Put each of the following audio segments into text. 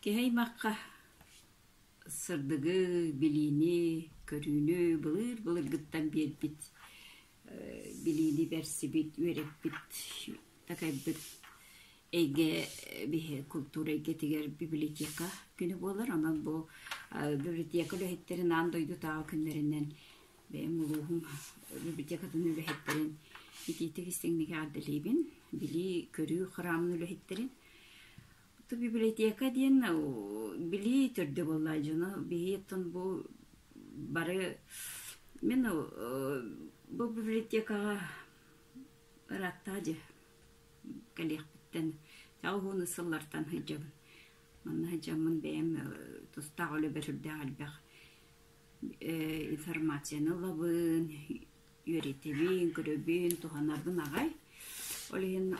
Киһи аймахха сырдыгы, билиини, көрүүнү былыыр-былыргыттан биэрбит билиини берсибит, үөрэппит, такайбыт эйгэ биһи култуура эйгэтигэр библиотека күнэ буолар. Онон бу библиотека үлэһиттэрин аан дойдутааҕы күннэринэн бэйэм улууһум библиотекатын үлэһиттэрин итиитик истиҥник ааддалиибин, билии, көрүү храмын үлэһиттэрин. Ту библиотека диэн билии түрдө болла дьону биһиэттон бу бары мен бу библиотекаға ыраттаажы калиахпиттен тауһуну сыллартан хыжжабын манна хыжжаммын бэйэм тустаах үлэ бэрүрдээх альбах информацияны ылабын, үөрэтэбин, көрөбүн, туһанарбын аҕай. Ол иһин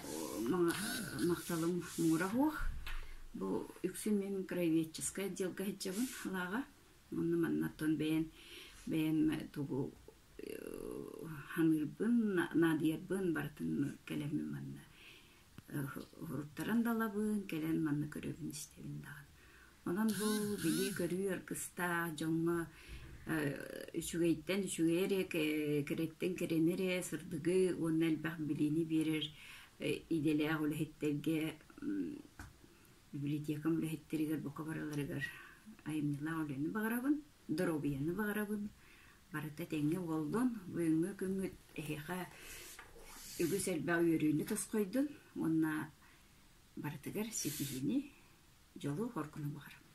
махталым муҥура суох. Бу үксүн мин микроведческай отделга сылдьабын лааҕа. Онно маннаттан бэйэм бэйэм тугу саныырбын, наадыйарбын барытын кэлэммин манна уһуруттаран далабын, кэлэн манна көрөбүн-истэбин даҕаны. Онон бу билии-көрүү аргыстаах дьоҥҥо үчүгэйтэн үчүгэй эрэ, кэрэттэн кэрэни эрэ сырдыгы уонна элбэх билиини биэрэр идэлээх үлэһиттэргэ, библиотекам үлэһиттэригэр бука барыларыгар айымньылаах үлэни баҕарабын. доруобуйаны баҕарабын барыта тэҥҥэ уоллун бүгүҥҥү күҥҥүт эһиэхэ үгүс элбэх үөрүүнү тосхойдун уонна барытыгар ситиһиини дьолу хоргуну баҕарабын